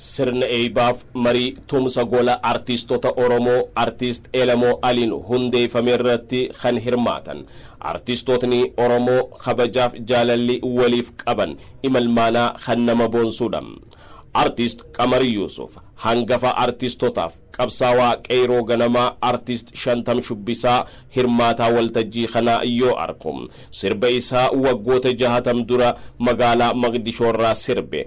Sirna eeybaaf marii tumsa gola artiistota Oromoo Artiist Elemoo Aliin hundeeyfame irratti kan hirmaatan artiistootni Oromoo kabajaaf jaalalli waliif qaban imalmaanaa kan nama boonsuudha. Artiist Qamar Yuusuf hangafa artiistotaaf qabsaawaa qeeyroo ganamaa Artiist Shantam Shubbisaa hirmaataa waltajjii kanaa yoo arku sirba isaa waggoota jahatam dura magaalaa Maqdishoo irraa sirbe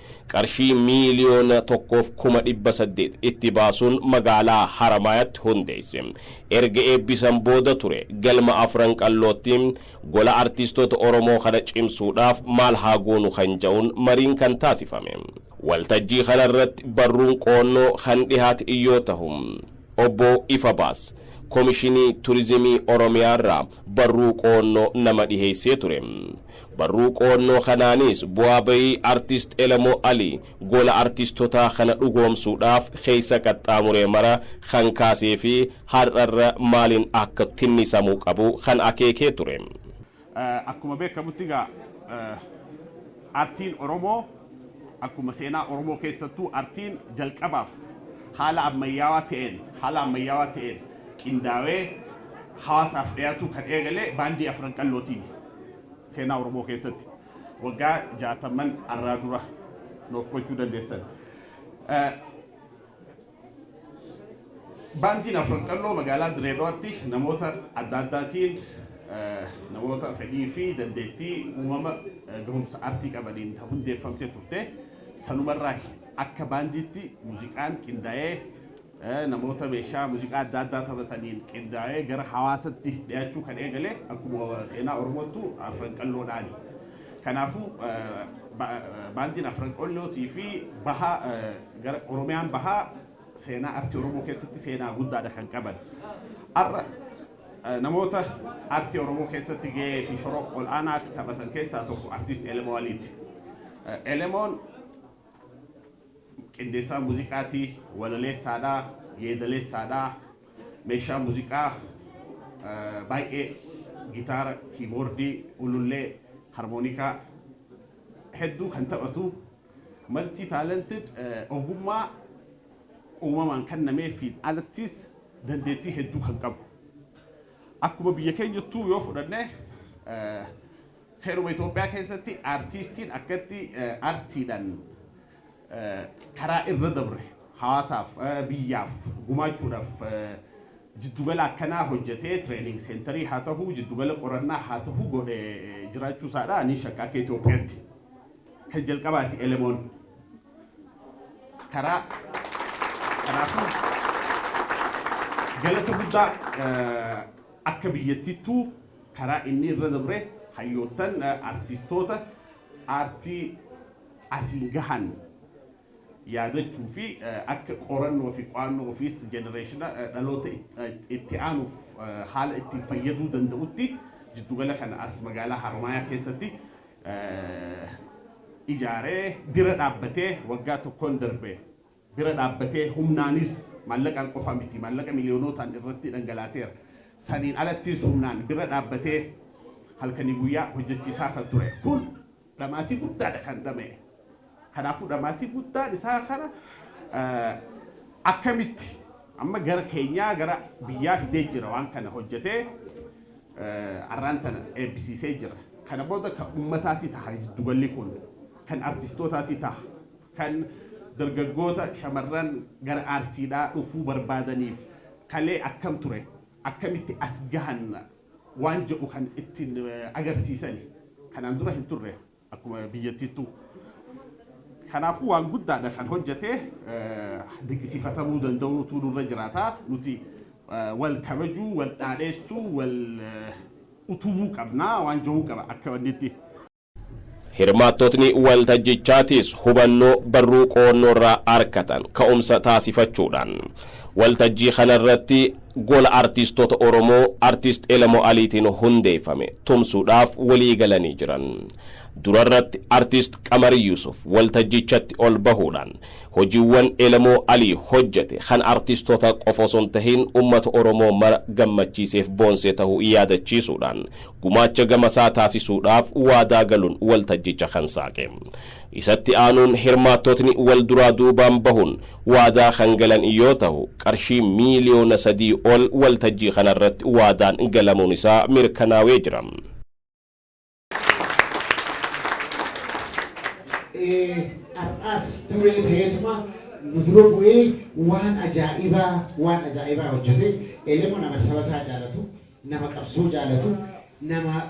qarshii miiliyoona 1f kuma 800 itti baasuun magaalaa Haramaayaatti hundeesse. Erga eebbisan booda ture galma Afran Qallootti gola artiistoota Oromoo kana cimsuudhaaf maal haa goonu kan ja'uun mariin kan taasifame. Waltajjii kana irratti barruun qo'annoo kan dhihaat yoo tahu, Obbo Ifabaas Komishinii Turizimii Oromiyaa irraa barruu qo'annoo nama dhiheessee ture. Barruu qo'annoo kanaanis bu'aa ba'ii Artist Elemoo Alii gola artistotaa kana dhugoomsuudhaaf keessa qaxxaamuree mara kan kaasee fi har'a irra maaliin akka tinnisamuu qabu kan akeekee ture. Akkuma beekamutti egaa Artiin Oromoo akkuma seenaa Oromoo keessattuu Artiin jalqabaaf haala ammayyaawaa ta'een haala ammayyaawaa ta'een qindaawee hawaasaaf dhiyaatuu kan eegale Baandii Afran Qallootiini. Seenaa Oromoo keessatti waggaa jaatamman arraa dura noof qolchuu dandeessan. Baandiin Afran Qalloo magaalaa Diree Dhawaatti namoota adda addaatiin namoota fedhii fi dandeettii uumama gahumsa artii qabaniin hundeeffamtee turte. Sanumarraa akka baandiitti muuziqaan qindaa'ee namoota meeshaa muziqaa adda addaa taphataniin qindaa'ee gara hawaasatti dhiyaachuu kan eegale akkuma seenaa Oromoottu Afran Qalloodhaani. Kanaafuu baandiin Afran Qallootii fi baha gara Oromiyaan bahaa seenaa artii Oromoo keessatti seenaa guddaadha kan qaban. Har'a namoota artii Oromoo keessatti gahee fi shora ol'aanaa taphatan keessaa tokko artiist Elemoo Aliiti. Elemoon Qindeessaa muuziqaati, walaleessaadha, yeedaleessaadha. Meeshaa muuziqaa baay'ee gitaara, kiiboordii, ulullee, harmoonikaa hedduu kan taphatu multi talented ogummaa uumamaan kennameefiin alattis dandeettii hedduu kan qabu. Akkuma biyya keenyattuu yoo fudhanne Seeruma Itoophiyaa keessatti artiistiin akkatti artiidhaan karaa irra dabre hawaasaaf, biyyaaf gumaachuudhaaf jiddugala akkanaa hojjetee training centerii haa tahu, jiddugala qorannaa haa tahu godhe jiraachuu isaa dha. Ani shakka akka Itoophiyaatti kan jalqabaa ti Elemoon karaa kanaafuu galata guddaa akka biyyattiittuu Karaa inni irra dabre hayyoottan, artistoota aartii asiin gahan yaadachuu fi akka qorannoo fi qo'annoo ofiis jenereeshina, dhaloota itti aanuuf haala ittiin fayyaduu danda'utti jiddugala kana as magaalaa Haaromaayaa keessatti ijaaree bira dhaabbatee waggaa tokkoon darbe bira dhaabbatee humnaanis, maallaqaan qofa miti, maallaqa miliyoonootaan irratti dhangalaaseera. Saniin alattis humnaan bira dhaabbatee halkanii guyyaa hojjachiisaa kan ture. Kun dhamaatii guddaadha kan dhama'e. Kanaafuu dhamaatii guddaan isaa kana akkamitti amma gara keenyaa gara biyyaa fidee jira waan kana hojjatee arraan tana eebbisiisee jira. Kana booda kan ummataati taha jiddugalli kun. Kan artistootaatii taha. kan dargaggoota shamarran gara aartiidhaa dhufuu barbaadaniif kalee akkam ture akkamitti as gahan waan jedhu kan ittiin agarsiisani kanaan dura hin turre akkuma biyyattiittuu kanaafuu waan guddaadha kan hojjete dinqisiifatamuu danda'uutu nurra jiraata nuti wal kabajuu wal dhaadheessuu wal utubuu qabna waan jedhuu qaba akka wannitti. Hirmaattotni waltajjichaatis hubannoo barruu qo'annoorraa arkatan ka'umsa taasifachuudhaan waltajjii kanarratti Gola Artiistota Oromoo Artiist Elemoo Aliitiin hundeeffame tumsuudhaaf waliigalanii jiran. Durarratti Artiist Qamar Yuusuf waltajjichatti ol bahuudhaan hojiiwwan Elemoo Alii hojjete kan artiistota qofa osoo hin tahin uummata Oromoo mara gammachiiseef boonsee tahuu yaadachiisuudhaan gumaacha gamasaa taasisuudhaaf waadaa galuun waltajjicha kan saaqe. Isatti aanuun hirmaattotni wal duraa duubaan bahuun waadaa kan galan yoo tahu qarshii miiliyoona sadii ol waltajjii kanarratti waadaan galamuun isaa mirkanaawee jira. Har'aas duree ta'eetuma nu dura bu'ee waan ajaa'ibaa waan ajaa'ibaa hojjete elemoo nama saba isaa jaalatu Nama qabsoo jaalatu, nama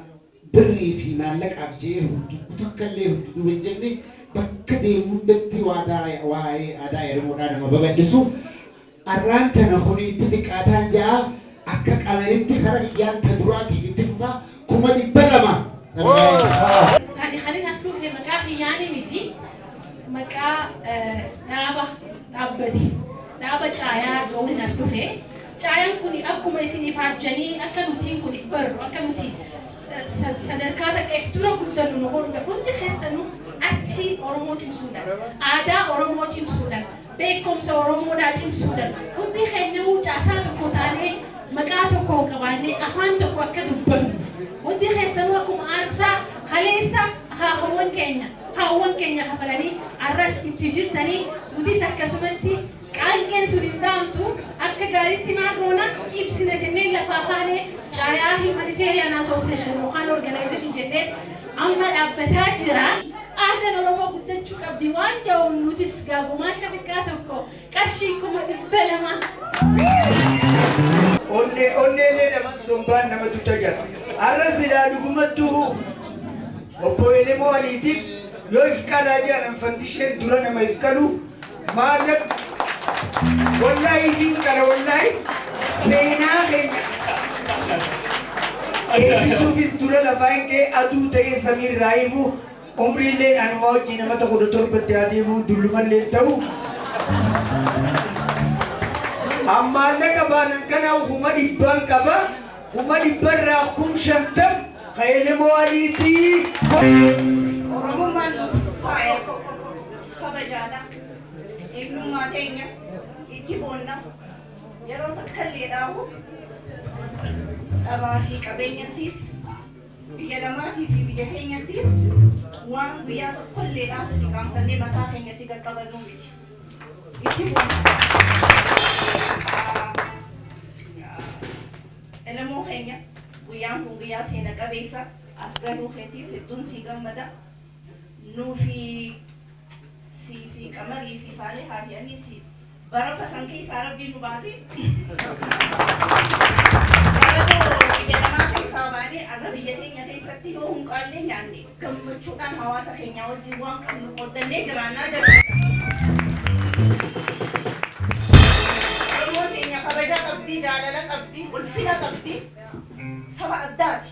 birrii fi maallaqaaf je'ee hundukku takkallee hunduduuba hin jenne, bakka deemu hundatti waadaa waa'ee aadaa Eremoodhaa nama babal'isu, arraan tana kuni itti xiqqaataan ja'a, akka qamaritti kara kiyyaan ta duraatiif itti fufa, 200,000 nama gaa'ee jira. Ani kanin as dhufe maqaa kiyyaani miti, maqaa dhaaba dhaabbati dhaaba caayaa ja'uunin as dhufe. Caayan kuni akkuma isin ifaajjanii akka nutiin kun if barru akka nuti sadarkaa takka if dura guddannu nu godhuudha. Hundi keessanu artii Oromoo cimsuudhan, aadaa Oromoo cimsuudhan, beekkomsa Oromoodhaa cimsuudhan hundi keenyawuu caasaa tokko taanee maqaa tokko qabaannee afaan tokko akka dubbannuuf hundi keessanuu akkuma aarsaa kaleessa akaakawwan keenya haawwan keenya kafalanii arras itti jirtanii nutis akkasumatti Qaanqeen sun hin dhaamtu, akka gaariitti maal goona? Ibsina jennee lafaa kaane, caayaa Humanitarian Association yookaan Organization jennee amma dhaabbataa jira. Aadaan Oromoo guddachuu qabdi waan ja'uun nutis gaa gumaacha xiqqaa tokko qarshii 200,000. Onnee onneellee nama sombaan nama tuta jira. Arra silaa dhugumattuu obbo Elemoo Aliitiif yoo ifqalaa jedhan fattisheen dura nama ifqalu Maallaq wallahi isiin kana wallahi seenaa keenya eebbisuufis dura lafaan kee aduu ta'ee samiin raayifu umriilleen anuma wajjin nama tokko kudha torbatti haa deemu dullumalleen ta'u ammaallee qabaanan kana huma dhibbaan qaba huma dhibbarraa kum shantam kaelemoo aliitii Oromummaan faaya. kabajaadha. Eenyummaa teenya itti boonna. Yeroo takkalleedhaahu dhabaa fi qabeenyattis, biyya namaatii fi biyya keenyattis waan guyyaa tokkolleedhaaf itti qaanfannee mataa keenyatti qaqqabannuu miti. Itti boonna. Elemoo keenya guyyaan kun guyyaa seena qabeessa as galuu keetiif hedduun sii gammada. Nuufi siifi qamarii fi saalihaa fi aniisi barafa san keessaa rabbiin nu baasee baradoo biyya namaa keessaa baanee arra biyya teenya keessatti yoo hunqaallee nyaanne gammachuudhaan hawaasa keenyaa wajjin waan qabnu qooddannee jiraannaa jedha. Oromoon teenya kabajaa qabdi, jaalala qabdi, ulfina qabdi, saba addaati.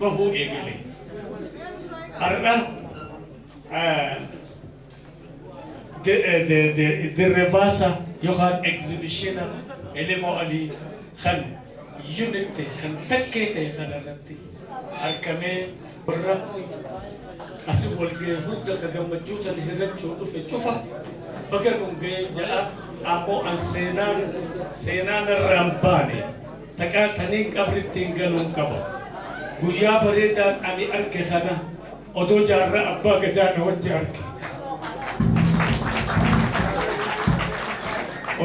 bahuu eegale. Har'a dirrebaasa yookaan egzibishina Elemoo Alii kan unit ta'e kan takkee ta'e kana irratti argamee warra asi walga'e hunda ka gammachuu tana hirrachuu dhufe cufa baga nun ga'een ja'a ammoo an seenaan seenaan irraan baane. Takkaa taniin qabrittiin galuun qaba. Guyyaa bareedaan ani arke kana odoo jaarraa abbaa gadaa na wajji arke.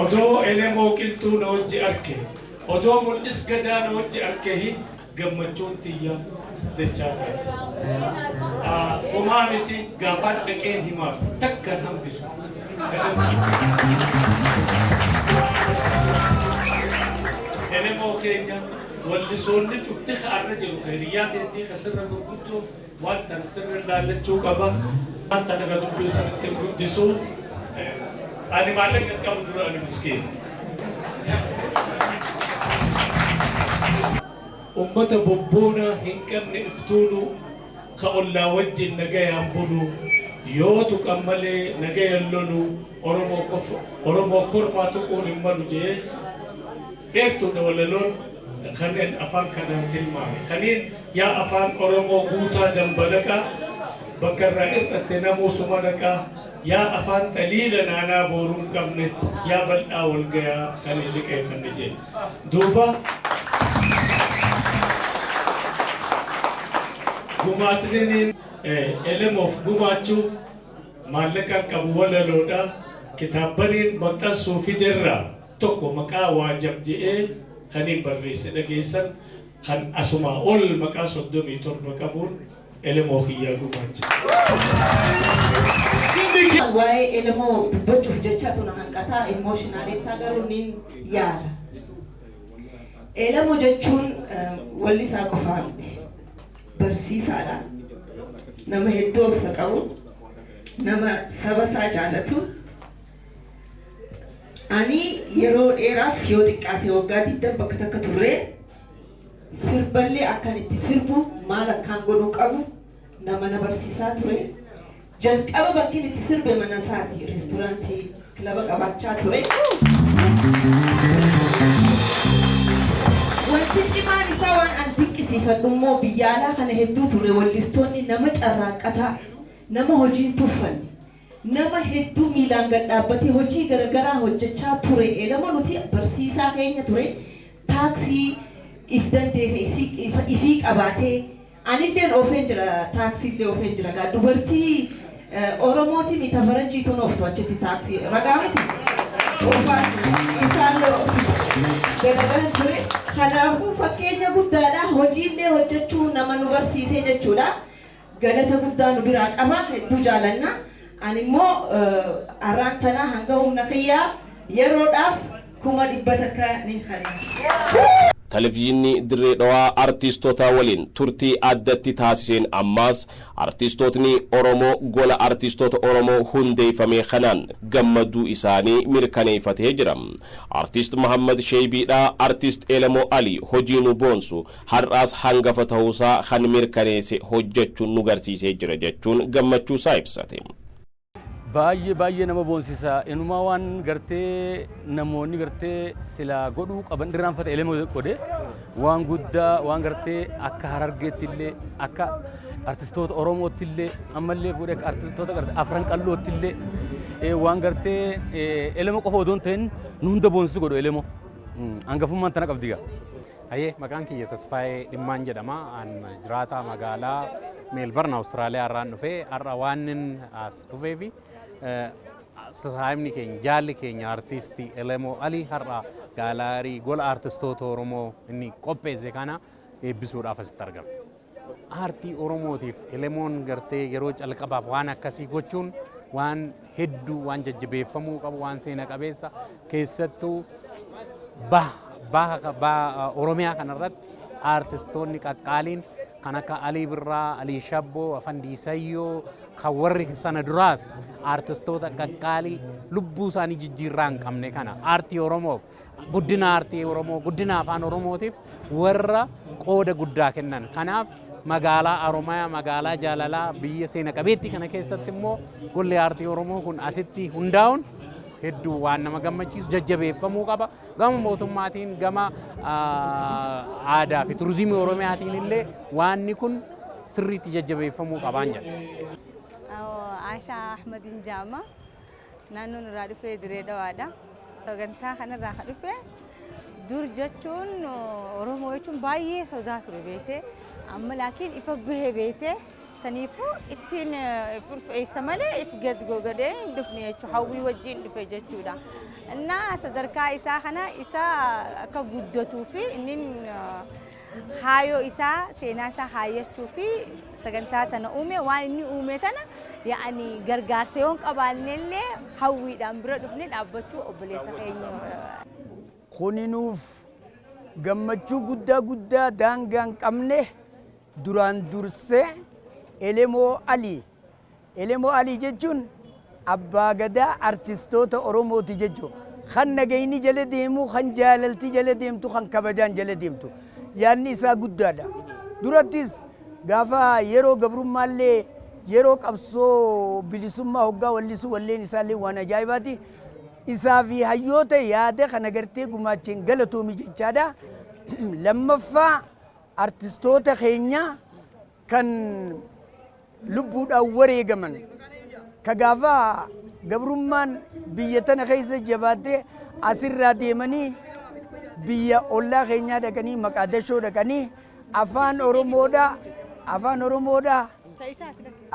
Odoo elemoo qilxuu na wajji arke. Odoo mul'is gadaa na wajji arkehi gammachuun tiyya dachaa taati. Homaa miti gaafaan dhaqeen himaaf takkan hambisu. Elemoo keenya wallisoonni cufti ka arra jiru ka hiriyyaa teetii ka sirra gurguddoo waan tana sirra laallachuu qaba. Waan tana ka dubbii sirritti hin guddisu. Ani maallaqa hin qabu dura ani miskiina. Ummata bobboonaa hin qabne iftuunuu. Ka ollaa wajjin nagayaan bulu, yoo tuqan malee nagayan lolu, Oromoo kormaa tuquun hin malu jee. Dheertuudha walaloon kannen afaan kanaan tilmaame. Kaniin yaa afaan Oromoo guutaa dambalaqaa, bakka irraa ir'atte namuu suma dhaqaa. Yaa afaan taliila naanaa booruun qabne yaa bal'aa wal gayaa kan hin liqeefanne jee duuba gumaatniniin elemoof gumaachuu maallaqaan qabu walaloodha kitaabbaniin maxxansuu fiderraa tokko maqaa waajab je'ee kaniin barreesse dhageessan kan asumaa ol maqaa soddomii torba qabuun Elemoo kiyyaa gumaachite. Waa'ee Elemoo dubbachuuf jechatu na hanqataa emotionally taa garuu nin yaada. Elemoo jechuun wallisaa qofaa miti. Barsiisaadha. Nama hedduu obsa qabu. Nama saba isaa jaalatu. Ani yeroo dheeraaf yoo xiqqaate waggaa 20 bakka takka turree Sirballee akkan itti sirbu, maal akkaan godhuu qabu nama na barsiisaa ture. Jalqaba bakkin itti sirbe mana isaati. Restoraantii, kilaba qabaachaa ture. Wanti cimaan isaa waan an dinqisiifadhu immoo biyya alaa kana hedduu turre wallistoonni nama carraaqqataa, nama hojii hin tuffanne. Nama hedduu miilaan gad dhaabbatee hojii garagaraa hojjachaa ture elama nuti barsiisaa keenya ture taaksii if danda'e ka ifii qabaatee anilleen oofeen jira taaksiillee oofeen jira gaa dubartii oromootimii ta faranjiituun ooftu achitti taaksii ragaa miti oofaan ture isaallee oofsisaa dalagaan ture kanaafuu fakkeenya guddaadha hojiillee hojjachuu nama nu barsiisee jechuudha Galata guddaa nu biraa qaba. Hedduu jaalanna. Ani immoo arraan tana hanga humna kiyyaa yeroodhaaf kuma dhibba takka nin kanina. Televizyiinni Dirree Dhawaa Artiistota waliin turtii addatti taasiseen ammaas Artiistootni Oromoo Gola Artiistoota Oromoo hundeeffamee kanaan gammaduu isaanii mirkaneeffatee jira. Artiist Mahammad Sheeybiidhaa Artiist Elemoo Alii hojii nu boonsu Har'aas hangafa tahuusaa kan mirkaneese hojjachuun nu garsiisee jira jachuun gammachuusaa ibsate. Baay'ee baay'ee nama boonsisa inumaa waan gartee namoonni gartee silaa godhuu qaban irraanfata elemo godhe waan guddaa waan gartee akka harargeetti illee akka artistoota oromootti illee ammallee fuudhee akka artistoota gartee afran qallootti illee waan gartee elemo qofa odoon ta'in nu hunda boonsisu godhu elemo hangafummaan tana qabdigaa. Hayyee maqaan kiyya Tasfaayee Dhimmaan jedhama. An jiraataa magaalaa Meelbarn Awustiraaliyaa irraan dhufe. Har'a waanin as dhufee fi sasaayimni keenya jaalli keenya artiistii Elemoo Alii har'a gaalaarii gola artistoota Oromoo inni qopheesse kana eebbisuudhaaf asitti argame. Aartii Oromootiif Elemoon gartee yeroo calqabaaf waan akkasii gochuun waan hedduu waan jajjabeeffamuu qabu waan seena qabeessa keessattuu baha Oromiyaa kanarratti aartistoonni qaqqaaliin kan akka Alii Birraa, Alii Shabboo, Afandii Sayyoo kan warri sana duraas aartistoota qaqqaalii lubbuu isaanii jijjiirraa hin qabne kana aartii Oromoof Guddina aartii Oromoo, guddina afaan Oromootiif warra qooda guddaa kennan. Kanaaf magaalaa Haromayaa, magaalaa jaalalaa biyya seena qabeettii kana keessatti immoo golli aartii Oromoo kun asitti hundaa'uun hedduu waan nama gammachiisu jajjabeeffamuu qaba. Gama mootummaatiin, gama ah, aadaa fi turizimii Oromiyaatiin illee waanni kun sirriitti jajjabeeffamuu qabaan jedha. Asha Ahmadin Jama. Naannoon irraa dhufe Diree Dhawaadha. Sagantaa kanarraa kan dhufe dur jechuun Oromoo jechuun baay'ee sodaa ture beekte. Amma laakiin ifa bahe beekte. Saniifuu ittiin if ulfeessa malee if gad gogadee hin dhufne jechuudha. Hawwii wajjin dhufe jechuudha. Innaa sadarkaa isaa kana isa akka guddatuu fi inni kaayoo isaa seenaa isaa kaayyachuu fi sagantaa tana uume waan inni uume tana yaani gargaarsa yoon qabaanne illee hawwiidhaan bira dhufne dhaabbachuu obboleessa keenya Kuni nuuf gammachuu guddaa guddaa daangaa hin qabne duraan dursee Elemoo Ali Elemoo Alii jechuun Abbaa Gadaa Artistoota Oromooti jechuun kan nagayni jala deemu, kan jaalalti jala deemtu, kan kabajaan jala deemtu. Yaadni isaa guddaadha. Durattis gaafa yeroo gabrummaallee yeroo qabsoo bilisummaa hoggaa wallisu walleen isaallee waan ajaa'ibaati. Isaa fi hayyoota yaada kana gartee gumaacheen galatoomi jechaadha. Lammaffaa artistoota keenya kan lubbuudhaan wareegaman ka gaafa gabrummaan biyya tana keessa jabaattee asirraa deemanii biyya ollaa keenyaa dhaqanii maqaadashoo dhaqanii afaan oromoodhaa afaan oromoodhaa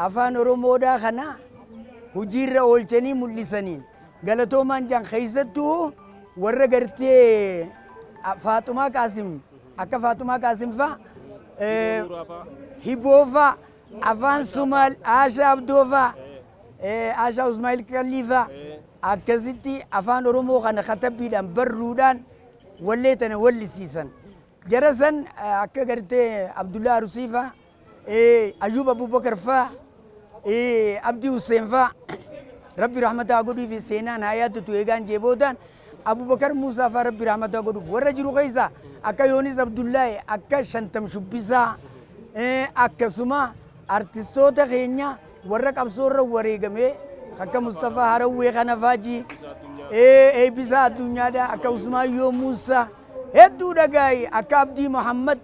afaan oromoodhaa kana hojiirra oolchanii mul'isaniin galatoomaan jaan keessattuu warra gartee faaxumaa qaasim Akka Faatumaa Qaasim faa, Hiboo faa, Afaan Somaal, Aashaa Abdoo faa, Aashaa Usmaa'il Qallii faa akkasitti Afaan Oromoo kana katabbiidhaan barruudhaan wallee tana wallisiisan. Jara san akka gartee Abdullaa Arusii faa, Ayyuub Abubakar faa, Abdii Husseen faa Rabbi rahmata haa godhuufi seenaan haa yaadatu eegaan jee boodaan Abubakar Muusaa faa Rabbi rahmata haa godhuuf warra jiru keessa akka Yoonis Abdullaahi akka Shantam Shubbisaa akkasuma artistoota keenya Warra qabsoo irra wareegamee akka Mustafaa Harawwee kana faa ji, ee Eebbisaa Addunyaadhaa akka Usmaayyoo Muussaa hedduu dhagaayi akka Abdii Muhammad.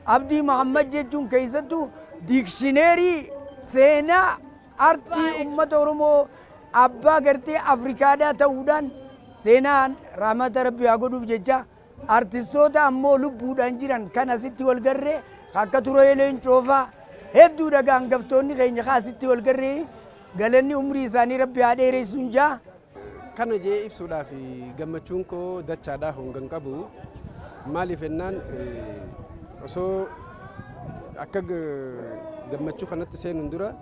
Abdii Muhammad jechuun keessattuu diikshineerii seenaa artii uummata Oromoo abbaa gartee Afrikaadhaa ta'uudhaan seenaan rahmata Rabbii haa godhuuf jechaa Artistoota ammoo lubbuudhaan jiran kan asitti wal garre ka akka Turayee Leencoo faa hedduudha ga angaftoonni keenya ka asitti wal garre galanni umrii isaanii Rabbi haa dheeressun ja. Kana je'ee ibsuudhaaf gammachuun koo dachaadha honga hin qabu. Maaliif ennaan osoo akka gammachuu kanatti seenuun dura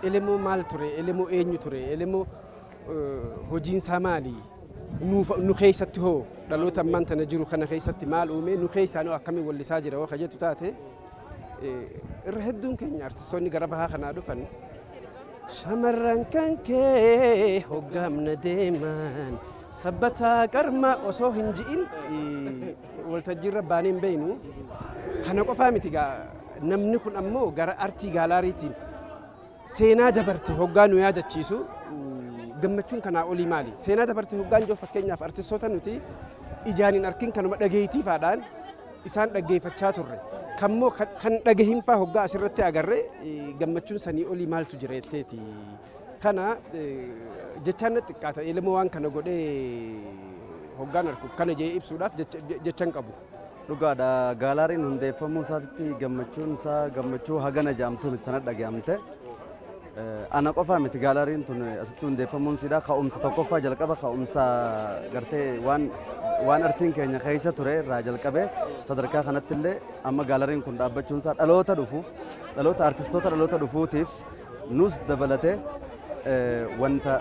Elemoo maal ture? Elemoo eenyu ture? Elemoo hojiin isaa maali? Nuuf nu keessatti hoo dhaloota ammaan tana jiru kana keessatti maal uumee nu keessaan hoo akkamiin wallisaa jira hoo ka jettu taate irra hedduun keenya artistoonni gara bahaa kanaa dhufan shamarran kan kee hoggaamna deeman sabbataa qarma osoo hin ji'in waltajjiirra baanee hin beeknu kana qofaa miti gaa namni kun ammoo gara artii gaalaariitiin Seenaa dabarte hoggaa nu yaadachiisu gammachuun kanaa olii maali? Seenaa dabarte hoggaan jiru fakkeenyaaf artistoota nuti ijaan hin arkin kanuma dhageetiifaadhaan isaan dhaggeeffachaa turre. Kammoo kan dhagahinfaa hoggaa asirratti agarre gammachuun sanii olii maaltu jira jetteeti. Kana jechaan na xiqqaata. Elemoo waan kana godhee hoggaan arku kana jee ibsuudhaaf jecha hin qabu. Dhugaadha gaalaariin hundeeffamuu isaatitti gammachuun isaa gammachuu hagana jedhamtu miti tana dhaga'amte. Ana qofaa miti gaalaariin tun asitti hundeeffamuun siidha ka'umsa tokkoffaa jalqaba ka'umsa gartee waan waan artiin keenya keessa ture irraa jalqabee sadarkaa kanatti illee amma gaalaariin kun dhaabbachuun isaa dhaloota dhufuuf dhaloota artistoota dhaloota dhufuutiif nus dabalatee wanta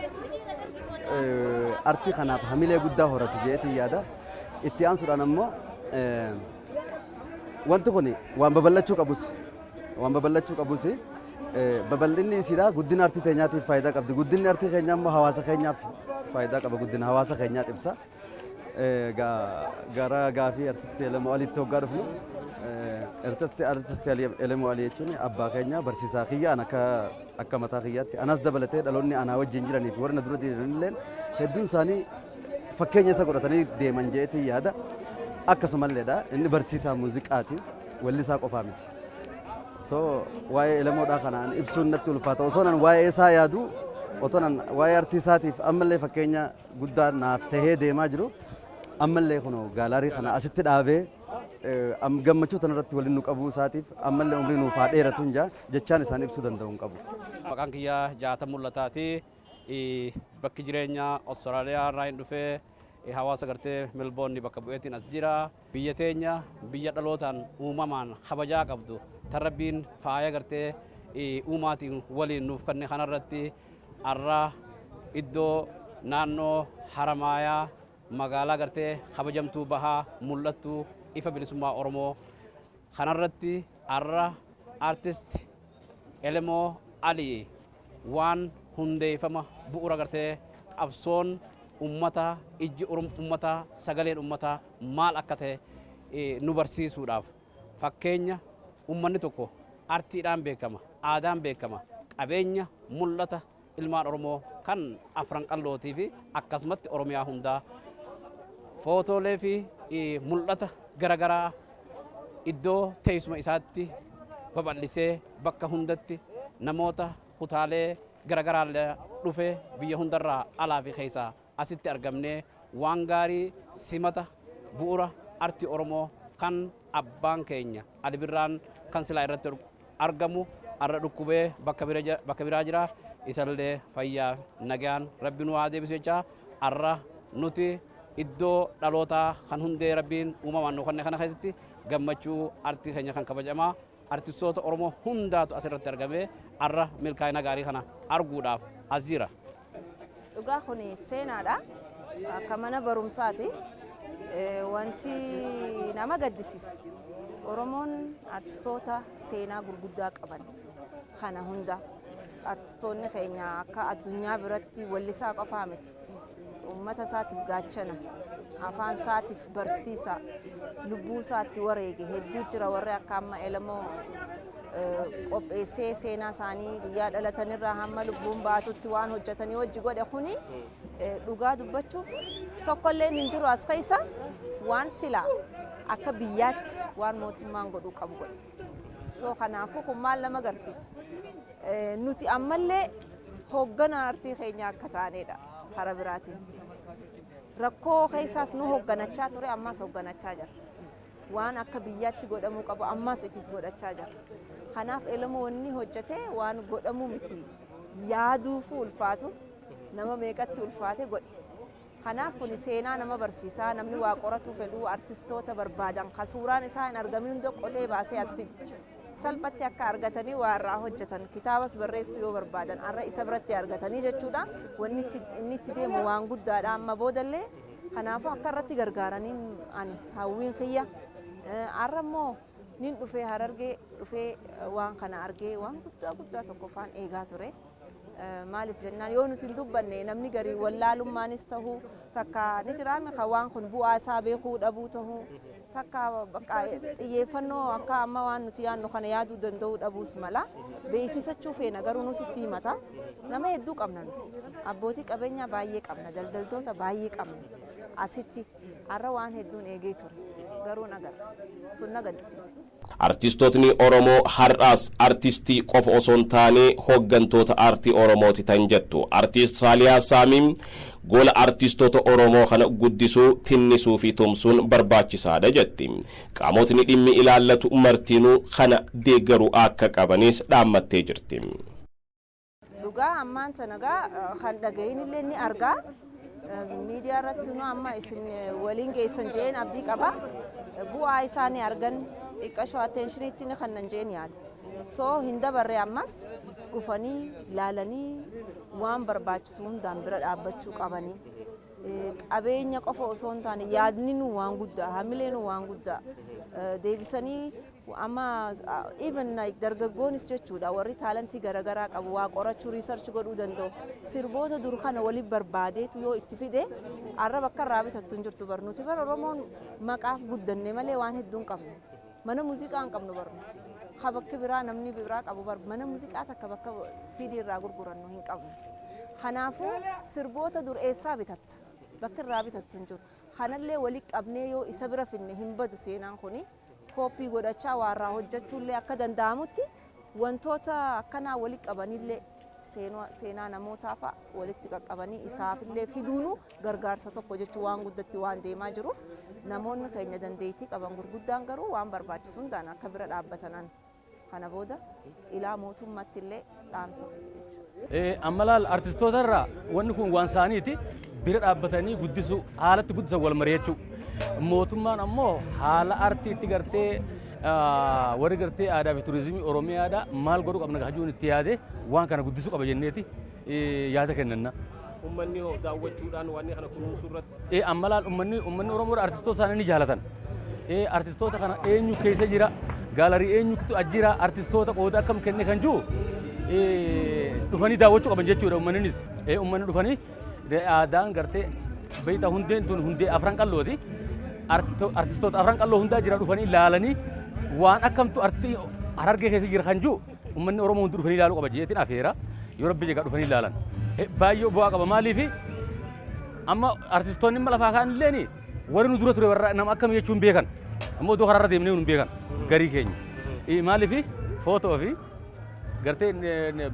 artii kanaaf hamilee guddaa horatu jeetii yaada. Itti aansuudhaan ammoo wanti kun waan babal'achuu qabus waan babal'achuu qabus babal'inni isiidhaa guddina artii teenyaatiif faayidaa qabdi. Guddinni artii keenyaa immoo hawaasa keenyaaf faayidaa qaba. Guddina hawaasa keenyaa ibsa. Gara gaafii artistii Elemoo Aliitti hoggaa dhufnu artistii artistii Elemoo Alii jechuun abbaa keenya barsiisaa kiyya an akka akka mataa kiyyaatti anas dabalatee dhaloonni anaa wajjin jiranii fi warra na dura jiran illee hedduun isaanii fakkeenya isa godhatanii deeman jeetii yaada akkasumalleedha inni barsiisaa muuziqaati wallisaa qofaa miti so waa'ee elemoodhaa kanaan ibsuun natti ulfaata osoo nan waa'ee isaa yaadu otoo nan waa'ee artii isaatiif ammallee fakkeenya guddaa naaf tahee deemaa jiru ammallee kunoo gaalaarii kana asitti dhaabee eh, am- gammachuu tanarratti waliin nu qabuu isaatiif ammallee umrii nuuf haa dheeratu hin jaa jechaan isaan ibsuu danda'u hin qabu. Maqaan kiyyaa jaata mul'ataati. Bakki jireenya Australia irraa hin dhufee hawaasa gartee Melbourne bakka bu'eetiin as jira. Biyya teenya biyya dhalootaan uumamaan kabajaa qabdu tan Rabbiin faaya gartee uumaatiin waliin nuuf kenne kanarratti arra iddoo naannoo Haramaayaa magaalaa gartee kabajamtuu bahaa mul'attu ifa bilisummaa Oromoo Kanarratti har'a Artist Elemoo Alii waan hundeeffama bu'uura gartee qabsoon ummataa, ijji ummataa, sagaleen ummataa maal akka ta'e nu barsiisuudhaaf fakkeenya ummanni tokko artiidhaan beekama, aadaan beekama, qabeenya mul'ata Ilmaan Oromoo kan Afran Qallootii fi akkasumatti Oromiyaa hundaa footoolee fi mul'ata garagaraa iddoo teessuma isaatti babal'isee bakka hundatti namoota kutaalee garagaraa dhufee biyya hundarraa alaa fi keessaa Asitti argamnee waan gaarii simata bu'ura arti Oromoo kan abbaan keenya Ali Birraan kan silaa irratti argamu arra dhukkubee bakka biraa jira isallee fayyaaf nagayaan rabbi nu haa deebisu jechaa arra nuti iddoo dhalootaa kan hundee rabbiin uumamaan nu kanne kana keessatti gammachuu artii keenya kan kabajamaa artistoota Oromoo hundaatu asirratti argamee arra milkaa'ina gaarii kana arguudhaaf as jira. Dhugaa kun seenaadha. Akka mana barumsaati. Wanti nama gaddisiisu Oromoon artistoota seenaa gurguddaa qaban kana hunda artistoonni keenya akka addunyaa biratti wallisaa qofaa miti. Uummata isaatiif gaachana, afaan isaatiif barsiisaa lubbuu isaa itti wareege hedduu jira warri akka amma elemoo qopheessee seenaa isaanii guyyaa dhalatanirraa hamma lubbuun baatutti waan hojjetanii hojji godhe kuni dhugaa dubbachuuf tokkollee hin jiru as keessa waan silaa akka biyyaatti waan mootummaan godhuu qabu godhe. So kanaafuu kun maal nama agarsiisa? Nuti ammallee hoogganaa artii keenya akka taanedha karaa biraatiin. Rakkoo keessaas nu hogganachaa ture ammaas hogganachaa jirra. Waan akka biyyaatti godhamuu qabu ammaas ifiif godhachaa jirra. Kanaaf Elemoo wanni hojjete waan godhamu miti. Yaaduufuu ulfaatu nama meeqatti ulfaate godhe. Kanaaf kuni seenaa nama barsiisaa namni waa qoratuu fedhuu artistoota barbaadan ka suuraan isaa hin argamin hunda qotee baasee as fide. salphatti akka argatanii waa irraa hojjetan kitaabas barreessuu yoo barbaadan arra isa biratti argatanii jechuudha wanni itti- inni itti deemu waan guddaadha amma boodallee kanaafuu akka irratti gargaaraniin ani hawwiin kiyya Eh, arra immoo nin dhufee harargee dhufee eh, waan kana argee waan guddaa guddaa tokko faan eegaa ture Maaliif jennaan yoo nuti hin dubbanne namni garii wallaalummaanis ta'uu takka ni jiraame kan waan kun bu'aa isaa beekuu dhabuu ta'uu takka bakka xiyyeeffannoo akka amma waan nuti yaadnu kana yaaduu danda'uu dhabuus mala beeksisachuu feena garuu nuti itti himata nama hedduu qabna nuti abbootii qabeenyaa baay'ee qabna daldaltoota baay'ee qabna asitti Har'a waan hedduun eegee ture. Garuu hin agarre. Sun na gaddisiise. Artistootni Oromoo har'aas artistii qofa osoo hin taane hoggantoota aartii Oromooti tan jettu Artiist Saaliyaa Saamii, gola artistoota Oromoo kana guddisuu, tinnisuu fi tumsuun barbaachisaadha jetti. Qaamotni dhimmi ilaallatu martinuu kana deeggaruu akka qabanis dhaammattee jirti. Dhugaa ammaan sana gaa kan dhagahin illee ni argaa. Miidiyaa irratti nu amma isin waliin geessan jeen abdii qaba. Bu'aa isaa ni argan xiqqashoo attenshiniitti ni kannan jeen yaada. So hin dabarre ammas dhufanii laalanii waan barbaachisu hundaan bira dhaabbachuu qabanii. Qabeenya qofa osoo hin taane yaadni nu waan guddaa hamilee nu waan guddaa deebisanii Amma even like dargaggoonis jechuudha warri taalantii garagaraa qabu waa qorachuu research godhuu danda'u sirboota dur kana wali barbaadeetu yoo itti fide arra bakka irraa bitattu hin jirtu bar nuti bar oromoon maqaaf guddanne malee waan hedduun qabnu mana muuziqaa hin qabnu bar nuti ha bakki biraa namni biraa qabu bar mana muuziqaa takka bakka CD irraa gurgurannu hin qabnu kanaafuu sirboota dur eessaa bitatta bakka irraa bitattu hin jiru kanallee wali qabnee yoo isa bira finne hin badu seenaan kuni kooppii godhachaa waa irraa hojjachuullee akka danda'amutti wantoota akkanaa walitti qabanillee seenaa seenaa namootaafaa walitti qaqqabanii isaafillee fiduunuu gargaarsa tokko jechuun waan guddatti waan deemaa jiruuf namoonni keenya dandeettii qaban gurguddaan garuu waan barbaachisu hundaan akka bira dhaabbatanan Kana booda ilaa mootummatti illee dhaamsa kiyya jechuudha. Amma laal artistoota irraa wanni kun waan isaaniiti bira dhaabbatanii guddisuu haalatti guddisan wal mari'achuu. Mootummaan ammoo haala artiitti gartee warri gartee aadaa fi turizimii Oromiyaadha maal godhuu qabna gahajuun itti yaadee waan kana guddisuu qaba jenneeti. yaada kennanna. Ummanni hoo daawwachuudhaan waan kana kunuunsuu irratti? Amma laal ummanni ummanni Oromoo artistoota isaanii ni jaalatan. Artistoota kana eenyu keessa jira? Gaalarii eenyutu as jira? Artistoota qooda akkam kenne kan jiru dhufanii daawwachuu qaban jechuudha ummanninis. Ummanni dhufanii aadaan gartee beektaa hundeen tun hundee afran qallooti. Artistoota afran qalloo hundaa jira dhufanii ilaalanii waan akkamtu artii harargee keessa jira kan jiru Ummanni Oromoo hundi dhufanii ilaaluu qaba jeetin afeera. Yoo Rabbi jegaa dhufanii ilaalan. Baay'ee bu'aa qaba maaliifi amma artistoonni amma lafaa kaan illeen warri nu dura ture warra nama akkami jechuu hin beekan. Amma odoo karaarra deemnee nu hin beekan garii keenya. Maaliifi footoo fi gartee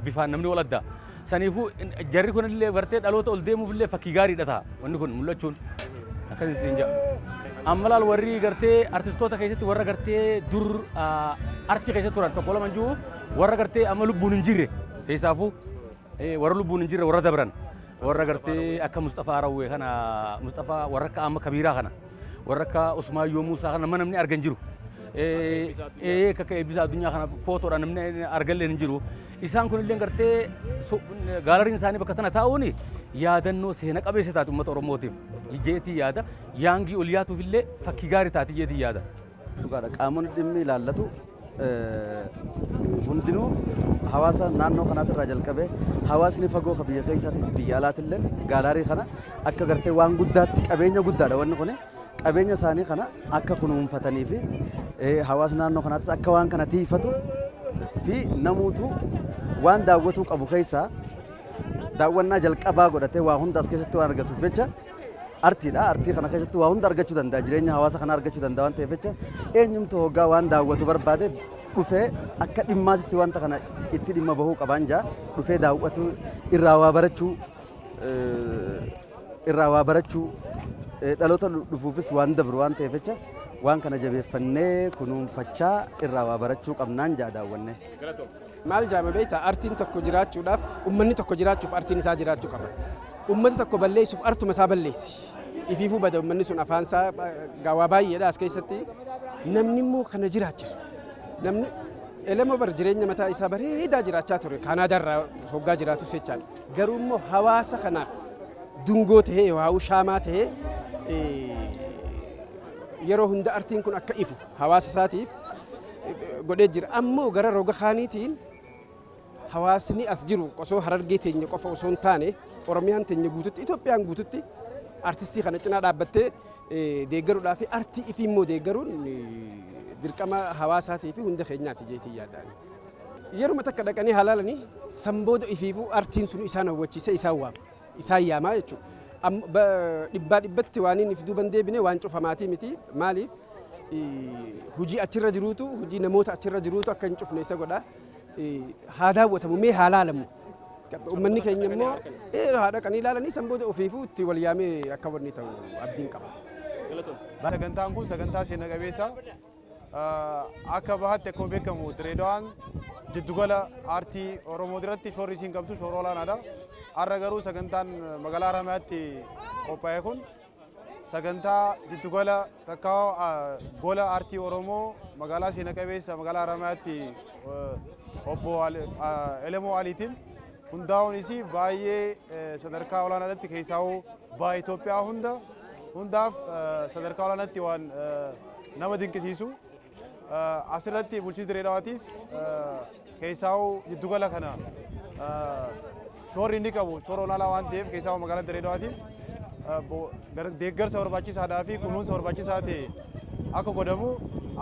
bifaan namni wal adda. Saniifuu jarri kunillee gartee dhaloota ol deemuufillee fakkii gaariidha ta'a wanni kun mul'achuun akkas isin ja'a. Amma laal warri gartee artistoota keessatti warra gartee dur artii keessa turan tokko lama jiru warra gartee amma lubbuun hin jirre keessaafuu warra lubbuun hin jirre warra dabran warra gartee akka Musxafaa Rawwee kana Musxafaa warra akka amma Kabiiraa kana warra akka Usmaayyoo Muusaa kana namni argan jiru. Akka eebbisaa addunyaa kana footoodhaan namni argallee hin jiru. Isaan kunillee gartee gaalariin isaanii bakka tana taa'uun yaadannoo seena qabeessa taate uummata Oromootiif jeetii yaada. Yaangii ol yaatuuf illee fakkii gaarii taate jeetii yaada. Dhugaadha qaamonni dhimmi ilaallatu hundinuu hawaasa naannoo kanaati irraa jalqabee hawaasni fagoo ka biyya keessaatii fi biyya alaatillee gaalaarii kana akka gartee waan guddaatti qabeenya guddaadha wanni kuni. qabeenya isaanii kana akka kunuunfatanii fi hawaasni naannoo kanaattis akka waan kana tiifatu fi namuutu waan daawwatuu qabu keessaa daawwannaa jalqabaa godhatee waa hunda as keessatti waan argatuuf jecha artiidha. Artii kana keessatti waa hunda argachuu danda'a. Jireenya hawaasa kana argachuu danda'a waan ta'eef jecha eenyumtu hoggaa waan daawwatu barbaade dhufee akka dhimmaatitti wanta kana itti dhimma bahuu qabaan jaa dhufee daawwatu irraa waa barachuu irraa waa barachuu, dhaloota dhufuufis waan dabru waan ta'eef jecha waan kana jabeeffannee kunuunfachaa irraa waa barachuu qabnaan ja'a daawwanne. Maal jaama beektaa artiin tokko jiraachuudhaaf ummanni tokko jiraachuuf artiin isaa jiraachuu qaba. Ummata tokko balleessuuf artuma isaa balleessi. Ifiifuu bada ummanni sun afaan isaa gaawaa baay'eedha as keessatti namni immoo kana jiraachisu. Namni elemoo bar jireenya mataa isaa bareedaa jiraachaa ture kaanaadaa irraa hoggaa jiraatus jechaadha. Garuu immoo hawaasa kanaaf dungoo tahee yookaan shaamaa tahee yeroo hunda artiin kun akka ifu hawaasa isaatiif godhee jira. Ammoo gara roga kaaniitiin hawaasni as jiru osoo harargee teenya qofa osoo hin taane Oromiyaan teenya guututti Itoophiyaan guututti artistii kana cinaa dhaabbattee deeggaruudhaa fi artii ifii immoo deeggaruun dirqama hawaasaatii fi hunda keenyaati jeetii yaadaan. Yeruma takka dhaqanii haa laalanii, san booda ifiifuu artiin sun isaan hawwachiisee isaan waama. Isaan yaamaa jechuudha. Amma dhibbaa dhibbatti waan inni if duuba hin deebine waan cufamaatii miti. Maaliif? Hujii achirra jiruutu, hujii namoota achirra jiruutu akka hin cufne isa godha. Haa daawwatamu, mee haa laalamu. Uummanni keenya immoo ee haa dhaqanii laalanii san booda ofiifuu itti wal yaamee akka wanni ta'u abdiin qaba. Sagantaan kun sagantaa seena qabeessa. Akka bahaatti akkuma beekamu Direedawaan jiddugala aartii Oromoo irratti shoorri isiin qabdu shoora olaanaadha. Har'a garuu sagantaan magaalaa Haramayaatti qophaa'e kun sagantaa jiddugala takkaa gola aartii Oromoo magaalaa seena qabeessa magaalaa Haramayaatti obbo Elemoo Aliitiin hundaa'uun isii baay'ee sadarkaa olaanaadhatti keessaa'uu baay'ee Itoophiyaa hunda hundaaf sadarkaa olaanaatti waan nama dinqisiisu asirratti bulchiinsi Direedaawaatiis keessaa'uu jiddugala kana shoorri inni qabu shoora olaanaa waan ta'eef keessaa'uu magaalaa Direedaawaatiif deeggarsa barbaachisaadhaa fi kunuunsa barbaachisaa ta'e akka godhamu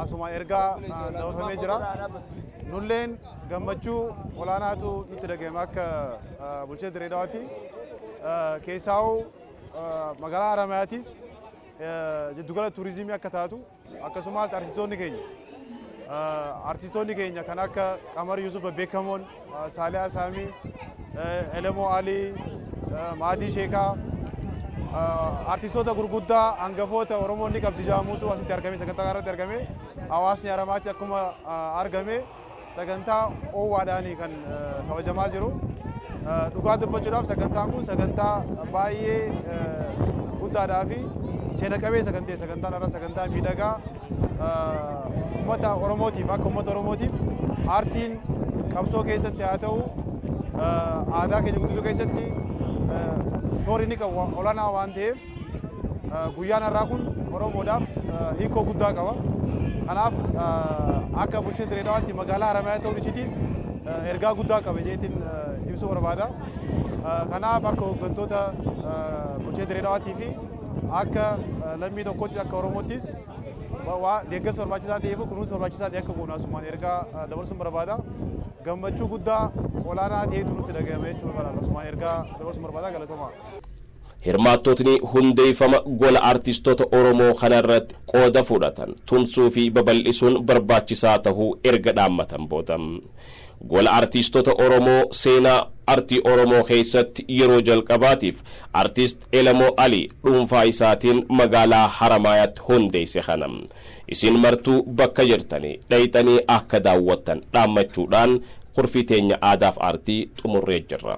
asumaan ergaa dabarfamee jira. Nulleen Gammachuu olaanaatu nutti dhaga'ame akka bulchaa Dirree Dawaatti. Keessaa'uu magaalaa Haramaayaatiis jiddugala tuurizimii akka taatu akkasumas artistoonni keenya artistoonni keenya kan akka Qamar Yusuf beekamoon Saaliyaa Saamii Elemoo Alii Maatii Sheekaa artistoota gurguddaa hangafoota Oromoon ni qabdi jaamuutu asitti argame sagantaa irratti argame hawaasni Haramaatti akkuma argame Sagantaa oowwaadhaan kan kabajamaa jiru. Dhugaa dubbachuudhaaf sagantaan kun sagantaa baay'ee guddaadhaa fi seena qabeessa kan ta'e sagantaan irra sagantaa miidhagaa uummata Oromootiif akka uummata Oromootiif aartiin qabsoo keessatti haa ta'u aadaa keenya guddisuu keessatti shoorri ni qabu olaanaa waan ta'eef Guyyaan har'aa kun Oromoodhaaf hiikoo guddaa qaba. Kanaaf akka bulchiinsa Direedawaatti magaalaa Haramaayaa ta'uun isiitiis ergaa guddaa qaba jeetiin ibsuu barbaada. Kanaaf akka hooggantoota bulchiinsa Direedawaatii fi akka lammii tokkotti akka Oromoottis deeggarsa barbaachisaa ta'ee fi kunuunsa barbaachisaa ta'e akka goonu asumaan ergaa dabarsuun barbaada. Gammachuu guddaa olaanaa ta'etu nutti dhaga'ame jechuun asumaan ergaa dabarsuun barbaada galatomaa. Hirmaattotni hundeeffama gola artistoota Oromoo kana irratti qooda fudhatan tumsuu fi babal'isuun barbaachisaa tahuu erga dhaammatan booda Gola Artiistota Oromoo seenaa artii Oromoo keessatti yeroo jalqabaatiif Artist Elemoo Ali dhuunfaa isaatiin magaalaa Haramaayaatti hundeesse kana isin martuu bakka jirtanii dhayxanii akka daawwattan dhaammachuudhaan kurfii teenya Aadaaf Aartii xumurree jirra.